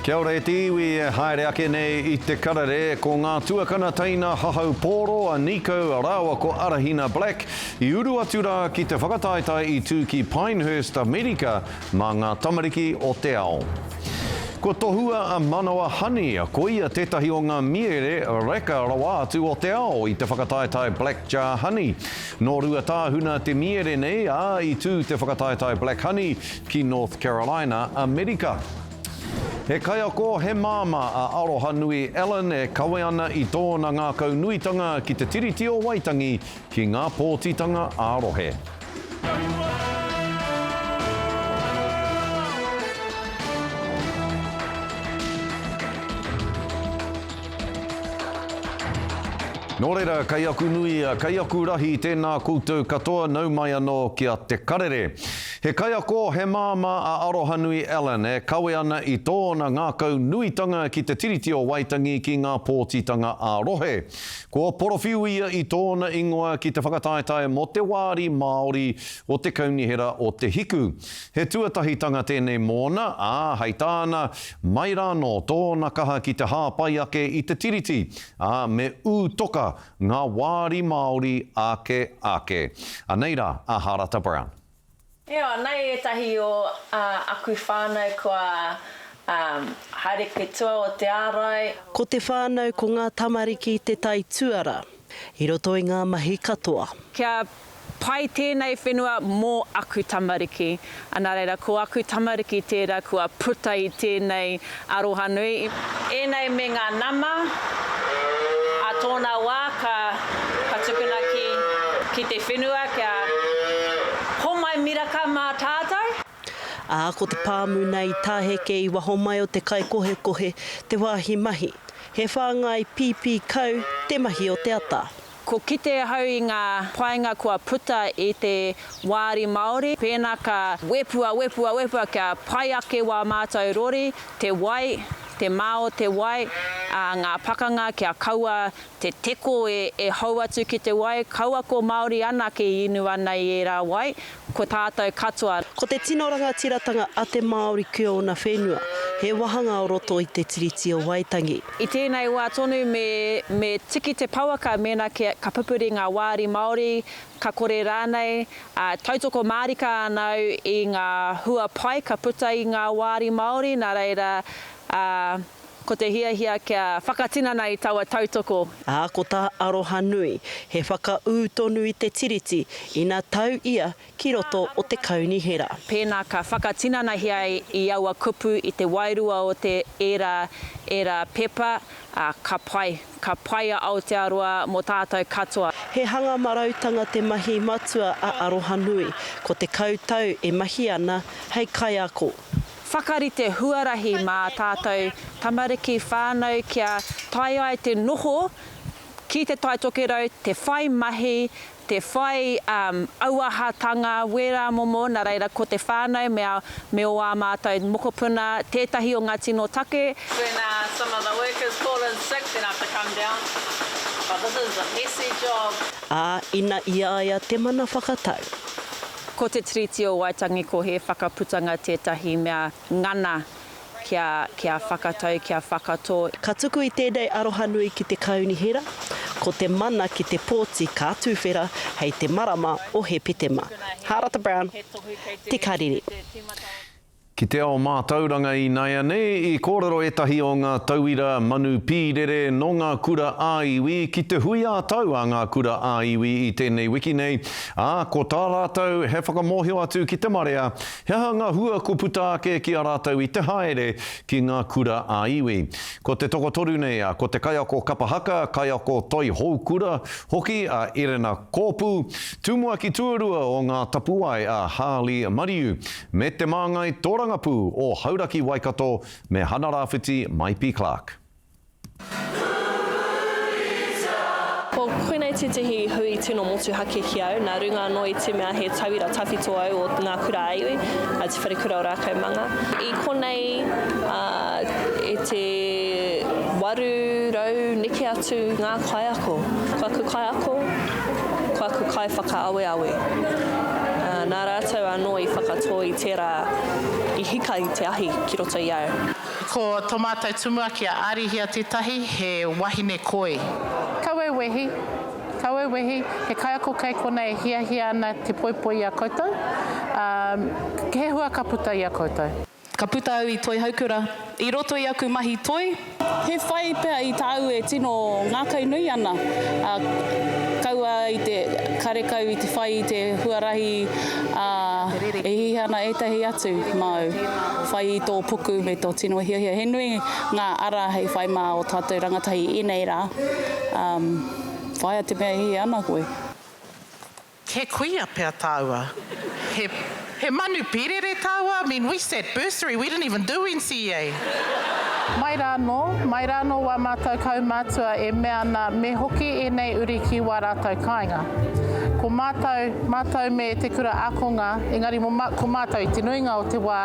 Kia ora e te iwi e haere ake nei i te karere ko ngā tuakana teina hahau pōro a Nico rāua ko Arahina Black i uru atu rā ki te whakataetae i tū ki Pinehurst Amerika mā ngā tamariki o te ao. Kua tohua a Manawa Honey ko ia tētahi o ngā mīere reka rawa atu o te ao i te whakataetae Black Jar Honey. Nō Ruatāhuna te mīere nei ā i tū te whakataetae Black Honey ki North Carolina, Amerika. He kaiako, he māmā a Arohanui Allen e kawe ana i tōna ngākau nuitanga ki te Tiriti o Waitangi ki ngā pōtitanga ā-rohe. Nō reira, kei aku nui, kei aku rahi tēnā koutou katoa, nau mai anō ki a Te Karere. He kaiako, he māmā a Arohanui Allen e kawe ana i tōna ngākau nuitanga ki te Tiriti o Waitangi ki ngā pōtitanga ā-rohe. Kua porowhiu ia i tōna ingoa ki te whakataetae mō te wāri Māori o te Kaunihera o Te Hiku. He tuatahitanga tēnei mōna, ā, hei tāna, mai rānō tōna kaha ki te hāpai ake i te Tiriti, ā, me ū toka ngā wāri Māori ake ake. Anei rā a Harata Brown. Io, anei etahi o a aku whanau kua haere ki tua o te arai. Ko te whanau ko nga tamariki te tai tuara i roto i nga mahi katoa. Kia pai tenei whenua mo aku tamariki. Ana reira, ko aku tamariki tera kua puta i tenei Aroha nui i. Enei me nga nama a tona wa ka ka tukuna ki. Ki te whenua kia homai miraka ma tatou. A ko te pamu nei taheke i waho mai o te kaikohekohe te wahi mahi. He whangai pipi kau te mahi o te ata. Ko kite ahau i ngā painga kua puta i te Wāri Māori, pēnā ka wepua, wepua, wepua kia pai ake wā mātou rori, te wai, te mā o te wai, ā, ngā pakanga kia kaua te teko e hou atu ki te wai, kaua ko Māori anake i inu ana i ērā wai, Ko tātou katoa. Ko te tino rangatiratanga a te Māori ki ōna whenua, he wāhanga o roto i Te Tiriti o Waitangi. I tēnei wā tonu me me tiki te pouaka mēnā ke ka pupuri ngā wāri Māori, ka kore rānei, ā, tautoko mārika ana au i ngā hua pai ka puta i ngā wāri Māori, nā reira, ā, Ko te hiahia kia whakatinana i taua tautoko. Ā, ko tā Arohanui, he whakaū tonu i te Tiriti ina tau ia ki roto o te Kaunihera. Pēnā ka whakatinanahia i aua kupu i te wairua o te ērā ērā pepa, ā, ka pai, ka pai a Aotearoa mō tātou katoa. He hanga marautanga te mahi matua a Arohanui, ko te kau tau e mahi ana hei kaiako. Whakarite huarahi mā tātou tamariki whānau kia tae ai te noho ki Te Tai Tokerau, te whai mahi, te whai auahatanga, wērā momo, nā reira ko te whānau me ō ā mātou mokopuna tētahi o ngā tino take. When some of the workers call in sick then I have to come down but this is a messy job. Ā, ina i a ia te mana whakatau. Ko te Tiriti o Waitangi ko he whakaputanga tētahi mea ngana kia kia whakatau, kia whakatō. Ka tuku i tēnei arohanui ki te Kaunihera, ko te mana ki te pōti ka tūwhera hei te marama o Hepetema. Hārata Brown, Te Karere. Ki te ao mātauranga ināianei i kōrero ētahi o ngā tauira manu pīrere nō ngā kura ā-iwi ki te hui ā-tau a ngā kura ā-iwi i tēnei wiki nei, ā, ko tā rātou he whakamōhio atu ki te marea he aha ngā hua kua puta ake ki a rātou i te haere ki ngā kura ā-iwi. Ko te tokotoru nei a ko te kaiako kapa haka, kaiako toi hou kura hoki a Erena Kōpu, tumuaki tuarua o ngā tapuwae a Harley Mariu, Me Te Māngai Tōrangapū o Hauraki Waikato me Hana Rawhiti Maipi Clark. Ko koinei tētehi hui tino motuhake ki au, nā runga anō i te mea he tauira tawhito au o ngā kura a iwi, a Te Wharekura o Rākau Manga. I konei, e te 800 neke atu ngā kaiako. Ko aku kaiako, ko aku kaiwhakaaweawe, ā, nā rātou anō i whakatō i tērā i hika i te ahi ki roto i au. Ko tō mātou tumuaki a Arihia tētahi, he wahine koi. Kau au wehi, kau au wehi, he kaiako kei konā e hiahia ana te poipoi i a koutou, ā, he hua ka puta i a koutou. Ka puta au i Toihoukura i roto i aku mahi toi. He whai pea i tāu e tino ngākau nui ana, ā, kaua i te karekau i te whai i te huarahi, ā, e hihi ana ētahi atu māu whai i tō puku me tō tino hiahia. He nui ngā ara hei whai mā ō tātou rangatahi ēnei rā, ā, whāia te mea e hihi ana koe. He kuia pea tāua. He, he manu pīrere tāua, I mean, we sat bursary, we didn't even do NCEA. Mai rānō, mai rānō wā mātou kaumātua e mea ana me hoki ēnei uri ki wā rātou kāinga. Ko mātou, mātou me Te Kura Ākonga, engari mo, ko mātou i te nuinga o te wā,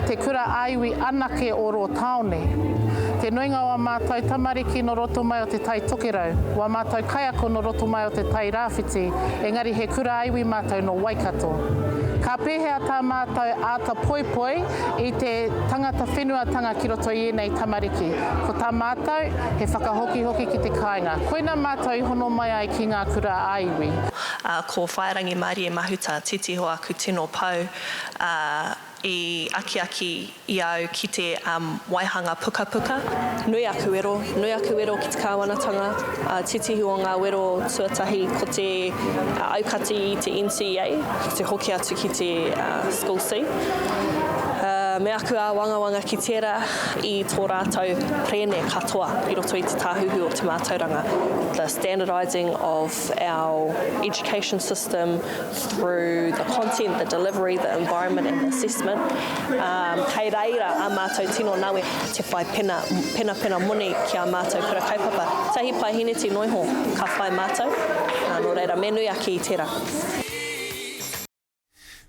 te kura ā-iwi anake o rō tāone. Te nuinga o ā mātou tamariki nō roto mai o te Tai Tokerau, wā mātou kaiako nō roto mai o te Tai Rā. Whiti, engari he kura iwi mātou nō Waikato. Ka pēhea tā mātou āta poipoi i te tangata whenuatanga ki roto i ēnei tamariki? Ko tā mātou, he whakahokihoki ki te kāinga. Koina mātou i hono mai ai ki ngā kura ā-iwi. Ko Whaerangi Marie Mahuta, titiro aku tino pou, I akiaki i a au ki te waihanga pukapuka. Nui aku wero, nui aku wero ki te Kāwanatanga, titihu o ngā wero tuatahi ko te aukati i te NCEA, ki te hoki atu ki te School C. Me aku āwangawanga ki tērā i tō rātou kerēme katoa i roto i te Tāhuhu o te Mātauranga, the standardising of our education system, through the content, the delivery, the environment and the assessment, um, kei reira a mātou tino nawe te whai pena, pena pena moni ki a mātou kura kaupapa. Tahi pae hineti noiho ka whai mātou, uh, nō reira me nui ake i tērā.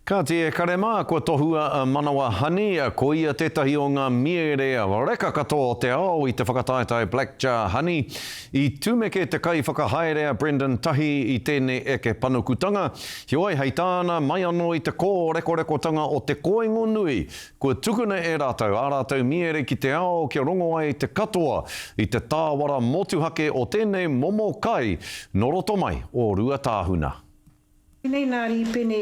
Kāti e kare mā, kua tohua a Manawa Honey, ko ia tētahi o ngā mīere reka katoa o te ao i te whakataetae Black Jar Honey. I tumeke te kaiwhakahaere a Brendan Tahi i tēnei eke panukutanga, heoi hei tāna, mai anō i te kōrekorekotanga o te koingo nui, kua tukuna e rātou ā rātou miere ki te ao kia rongo ai te katoa i te tāwara motuhake o tēnei momo kai nō roto mai o Ruatāhuna. Pēnei nā Rīpene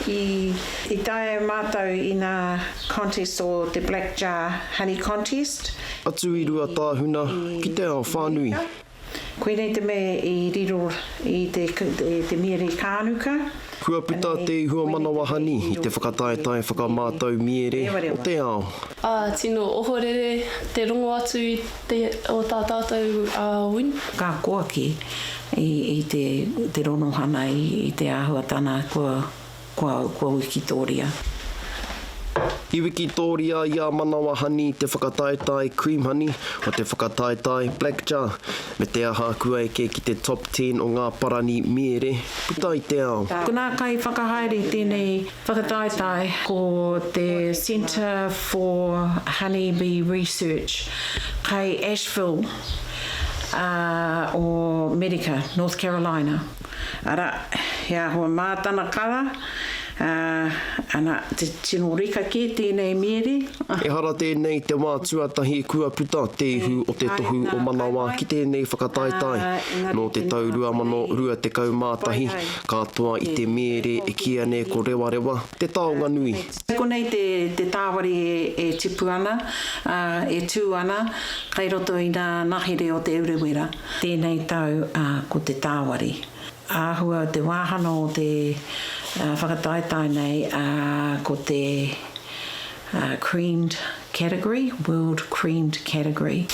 i taea e mātou inā contest o te Black Jar Honey Contest. Atu i Ruatāhuna ki te ao whānui. Koinei te mea i riro i te miere kānuka. Kua puta te ihua manawa honey i te whakataetae whakamātau miere o te ao. Ā, tino ohorere te rongo atu i. Te o tā tātou a Win. Ka koaki i te ronohana i te āhuatana kua wikitōria. I wikitōria i a Manawa Honey te whakataetae Cream Honey o te whakataetae Black Jar, me te aha kua eke ki te top ten o ngā parani mīere puta i te ao. Ko ngā kaiwhakahaere tēnei. Whakataetae, ko te Centre for Honey Bee Research kai Asheville o Merika, North Carolina, ara, he ahua mā tana kara, ana, te tino reka kē tēnei miere. Ehara tēnei te wā tuatahi kua puta te ihu o te tohu o Manawa ki tēnei whakataetae. Nō te tau 2021, Ka toa i te mere e kīia nei ko Rewarewa, te taonga nui. Kei konei te tāwari e tipu ana, ā, e tū ana, kei roto i ngā ngahere o Te Urewera. Tēnei tau, ā, ko te tāwari. Āhua te wāhanga o te whakataetae nei, ā, ko te Creamed category, World Creamed category.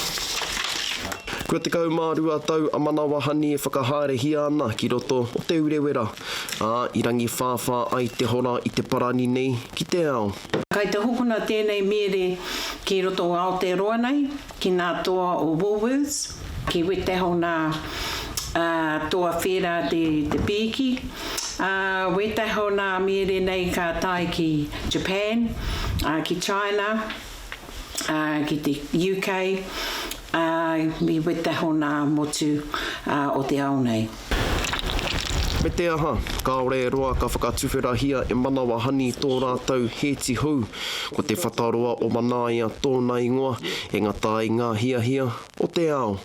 Kua 12 tau a Manawahani e whakahaerehia ana ki roto o Te Urewera, ā, i rangiwhāwhā ai te hora i te parani nei ki te ao. Kai te hokona tēnei mīere ki roto o Aotearoa nei. ki ngā toa o Woolworths, ki wetehona toa whērā te pīki, ā, wetehona mīere nei ka tae ki Japan, ā, ki China, ā, ki te UK, ā, i wetehona motu o te ao nei. Me te aha, kāore e roa ka whakatuwherahia e Manawahani tō rātou hēti hou, ko Te Whataroa o Manaia tōna ingoa, e ngata ai ngā hiahia o te ao.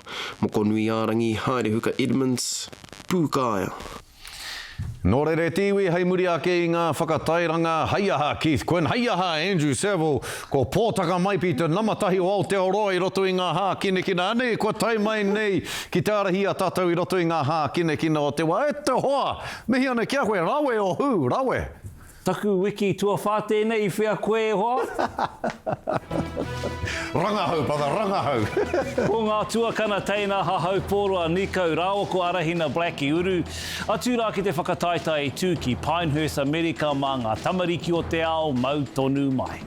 Mokonuiārangi, Haerehuka Edmonds, Pūkaea. Nō reira e te iwi hei muri ake i ngā whakatairanga, hei aha Keith Quinn, hei aha Andrew Saville, Ko Pōtaka Maipi te nama tahi o Aotearoa i roto i ngā hākinakina. Anei kua tae mai nei ki te ārahi i a tātou i roto i ngā hākinakina o te wā. E te hoa! Mihi ana ki a koe, rawe o hū, rawe! Taku wiki tuawhā tēnei i whea koe e hoa? Rangahau, brother, rangahau! Ko ngā tuakana teina hahau pōroa nikau raoko arahina black i uru. Atu rā ki te whakataetae i tū ki Pinehurst Amerika mā ngā tamariki o te ao mau tonu mai.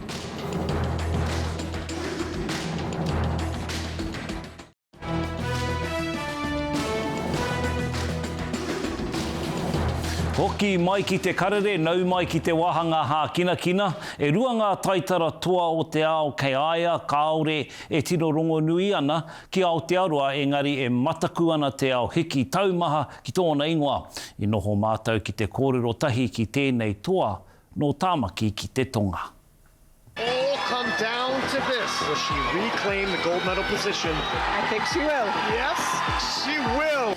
Hoki mai ki te karere, nau mai ki te wāhanga hākinakina, e rua ngā taitara toa o te ao kei a ia kāore e tino rongonui ana ki Aotearoa engari e mataku ana te ao hiki taumaha ki tōna ingoa. I noho mātou ki te kōrero tahi ki tēnei toa nō Tāmaki ki te tonga. All come down to this, will she reclaim the gold medal position? I think she will. Yes, she will!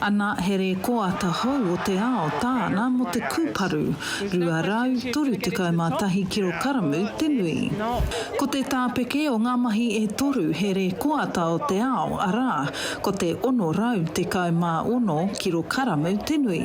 Ana he rēkoata hou o te ao tāna mō te kūparu, 231 kirokaramu te nui. Ko te tāpeke o ngā mahi e toru he rēkoata o te ao, arā, ko te 616 kirokaramu te nui.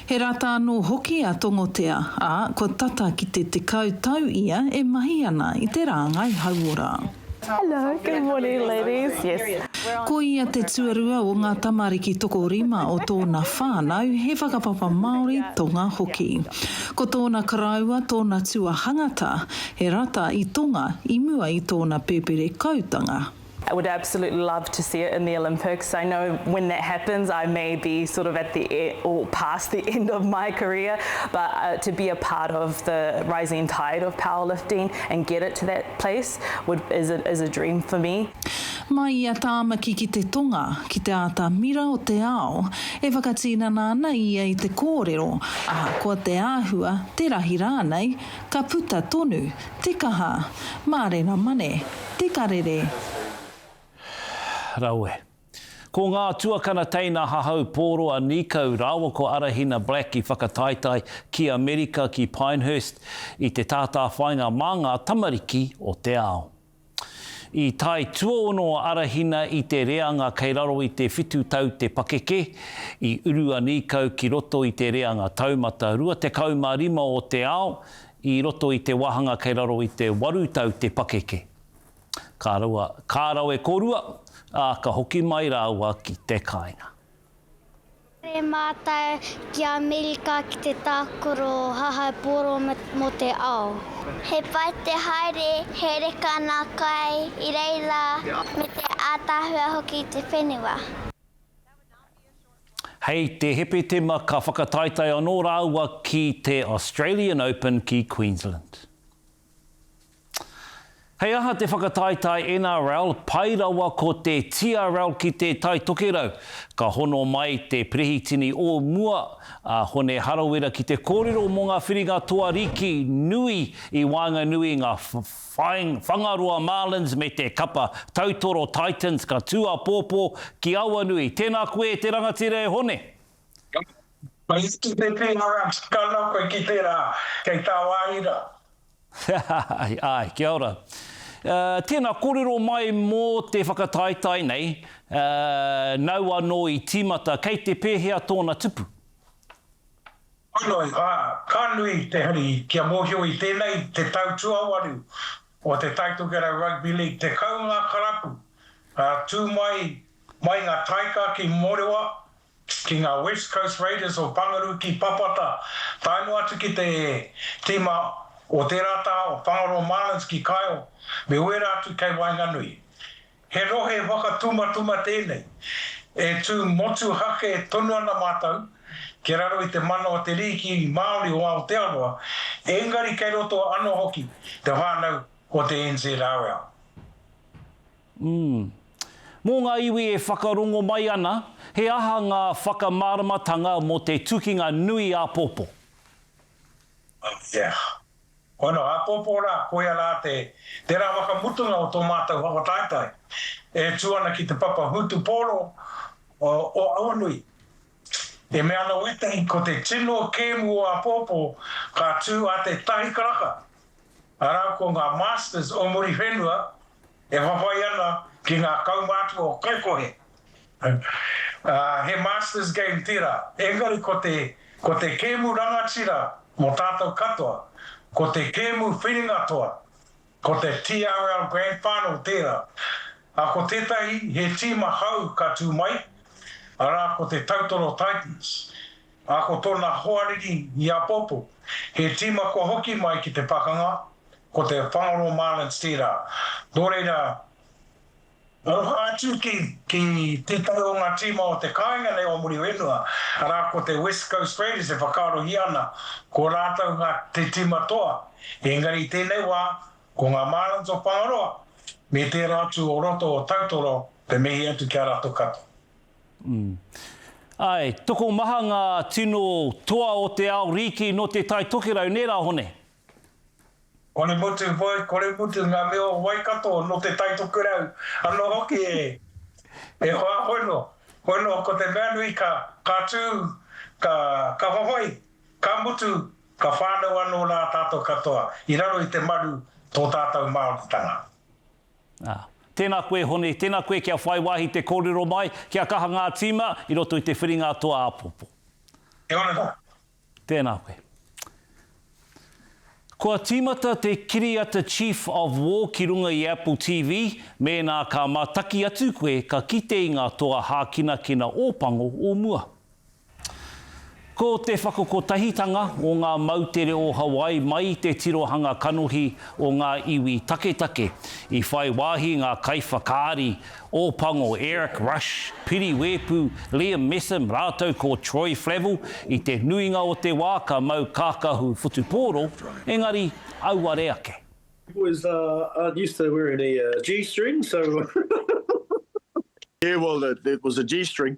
He rata anō hoki a Tongotea, ā, kua tata ki te tekau tau ia e mahi ana i te rāngai hauora. Hello, good morning ladies, yes. Ko ia te tuarua o ngā tamariki tokorima o tōna whānau, he whakapapa Māori, Tonga hoki. Ko tōna karaua tōna tuahangata, he rata i Tonga i mua i tōna pēperekoutanga. I would absolutely love to see it in the Olympics, I know when that happens I may be sort of at the e or past the end of my career but to be a part of the rising tide of powerlifting and get it to that place would is a is a dream for me. Mai i a Tāmaki ki te tonga, ki te āta mira o te ao, e whakatīnana ana ia i te kōrero, ahakoa te āhua, te rahi rānei, ka puta tonu Te kaha. Mārena mane. Te karere. Rawe. Ko ngā tuakana teina hahau pōroa nīkau rāua ko Arahina Black i whakataetae ki Amerika ki Pinehurst i te tātāwhainga mā ngā tamariki o te ao. I tae tuaono a Arahina i te reanga kei raro i te whitu tau te pakeke, i uru a Nīkau ki roto i te reanga taumata 25 o te ao i roto i te wāhanga kei raro i te waru tau te pakeke. Ka raua, ka rawe kōrua, ā, ka hoki mai rāua ki te kāinga. Haere mātou ki Amerika ki te tākaro hahau pōro mō te ao. He pai te haere, he reka ngā kai i reira me te ātaahua hoki i te whenua. Hei te Hepetema ka whakataetae anō rāua ki te Australian Open ki Queensland. Hei aha te whakataetae NRL, pai rawa ko te TRL ki te Tai Tokerau. Ka hono mai te Perehitini o mua, a Hone Harawira ki te kōrero mō ngā whiringa toa riki nui i waenganui i ngā Whangaroa Marlins me te kapa tautoro Titans ka tū apōpō ki Awanui. Tēnā koe te rangatira e Hone! Mai ki te tino rā, tana koe ki te rā, kei tāwāhi rā. Āe, āe, kia ora. Tēnā, kōrero mai mō te whakataetae nei, nau anō i tīmata, kei te pēhea tōna tupu? Ānō, ā, ka nui te hari kia mōhio i tēnei te tau tuawaru o te Taitokerau Rugby League, tekau ngā karapu tū mai, mai ngā taika ki Morewa, ki ngā West Coast Raiders o Pangaru ki Papata, tae noa atu ki te tīma o tērā taha o Whangaroa Marlins ki Kaeo, me wērā atu kei waenganui. He rohe whakatumatuma tēnei, e tū motuhake tonu ana mātou ki raro i te mana o te rīki Māori o Aotearoa, engari kei roto anō hoki te whānau o te NZRL. Umm. Mō ngā iwi e whakarongo mai ana, he aha ngā whakamāramatanga mō te tukinga nui āpōpō? Ātea. Koa noa, āpōpō rā, koia rā te, tērā whakamutunga o tō mātou whakataetae, e tū ana ki te papa Hūtu Pōro o Awanui. E mea ana Witeng ko te tino kēmu o apōpō ka tū a Te Tahi Karaka, arā ko ngā Masters o muri whenua e whawhai ana ki ngā kaumātua o Kaikohe. He Masters game tērā, engari ko te ko te kēmu rangatira mō tātou katoa, ko te kēmu whiringa toa, Ko te TRL Grand Final tērā, ā, ko tētahi he tīma hou ka tū mai, arā, ko te Tautoro Titans, ā, ko tōna hoariri i apopo. He tīma kua hoki mai ki te pakanga, ko te Whangaroa Marlins tērā, nō reira, Aroha atu ki tētahi o ngā tīma o te kāinga nei o muri whenua, arā ko te West Coast Raiders e whakaarohia ana ko rātou ngā te tīma toa, engari i tēnei wā ko ngā Marlins o Whangaroa me tērā atu o roto o Tautoro, te mihi atu ki a rātou katoa. Āe, tokomaha ngā tino toa o te ao rīki nō Te Tai Tokerau, nē rā Hone? Kore mutu, whoi, kore mutu nga mea o Waikato, no te Tai Tokerau, ano hoki e, e hoa hono, hono ko te mea nui ka, ka tu, ka, ka hohoi, ka mutu, ka whanau ano ra tatou katoa, i raro i te maru to tatou Maoritanga. Ah. Tena koe Hone, tena koe kia whai wahi te korero mai, kia kaha nga tima, i roto i te whiringa atua apopo. Kia ora, Tēnā koe. Kua tīmata te kiriata Chief of War ki runga i Apple TV, mēnā ka mātaki atu koe ka kite i ngā toa hākinakina Ōpango o mua. Ko te whakakotahitanga o ngā moutere o Hawaii mai i te tirohanga kanohi o ngā iwi taketake, i whai wāhi ngā kaiwhakaari Ōpango, Eric Rush, Piri Wēpu, Liam Messam rātou ko Troy Flavell, i te nuinga o te wā ka mau kākahu whutupōro, engari auare ake. Boys aren't used to wearing a G string so. Yeah well it was a G string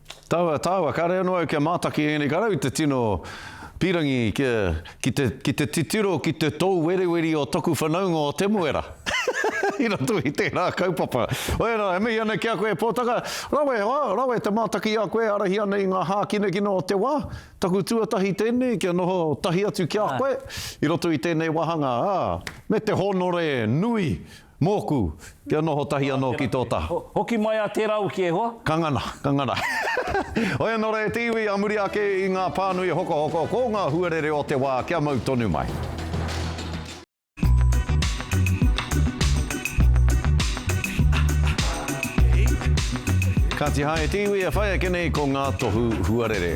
Taua, taua, kāre anō au kia mātaki ēnei karau i te tino pīrangi kia, ki te, ki te titiro ki te tōueriueri o toku whanaunga o Temuera. I roto i tērā kaupapa. Oia rā, e mihi ana ki a koe e Pōtaka. Rawe, hoa, rawe te mātaki i a koe e arahia nei ngā hākinakina o te wā. Taku tuatahi tēnei kia noho tahi atu ki a koe i roto i tēnei wāhanga, ā, me te hōnore nui Mōku, kia noho tahi anō ki tō taha. Hoki mai a tērā uki e hoa. Ka ngana, ka ngana. Oia nō rehe te iwi a muri ake i ngā pānui hokohoko, ko ngā huarere o te wā kia mau tonu mai. Kāti haere te iwi e whai ake nei ko ngā tohu huarere.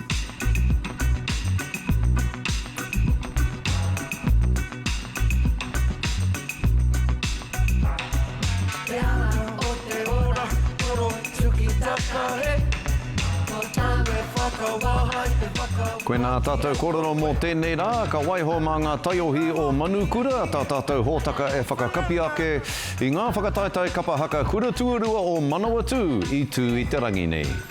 Koinā tātou kōrero mō tēnei rā, ka waiho mā ngā taiohi o Manukura tā tātou hōtaka e whakakapi ake i ngā whakataetae kapa haka kura tuarua o Manawatū i tū i te rangi nei.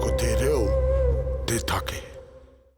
Ko te reo te take.